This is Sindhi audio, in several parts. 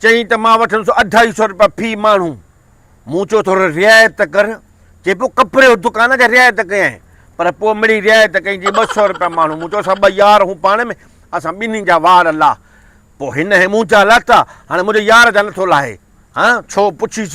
چيائين ته مان وٺندس اڍائي سئو روپيا في ماڻهو. مون چيو ٿوري رعايت ته ڪر. چئي پيو ڪپڙي جو دڪان آهي جا رعايت ڪيائين. پر پوء مڙئي رعايت ڪئي جي ٻه سئو روپيا ماڻهو. مون چيو اسان ٻه يار هون پاڻ ۾ اسان ٻنهي جا وار لاهه. پوء هن هي منهنجا لاتا هاڻي منهنجي يار جا نٿو لاهي. ها ڇو پڇيس.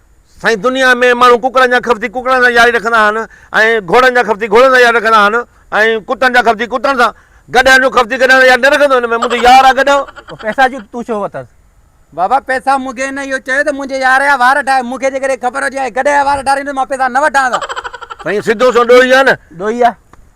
سائين دنيا ۾ ماڻهو ڪڪڙن جا خفتي ڪڪڙن سان ياري رکندا آهن ۽ گهوڙن جا خفتي گهوڙن سان ياري رکندا آهن ۽ ڪتن جا خفتي ڪتن سان گڏهن جو خفتي گڏهن سان ياري نه رکندو هن ۾ منهنجو يار آهي گڏهو. پوء پئسا جو تون ڇو ورتس؟ بابا پئسا مون کي هن اهو چيو ته منهنجي يار جا وار ٺاهه مون کي جيڪڏهن خبر هجي ها هي گڏهه جا وار ٺاريندو مان پئسا نه وٺان ها. سائين سڌو سنئون ڏوهي آهي نه. ڏوهي آهي.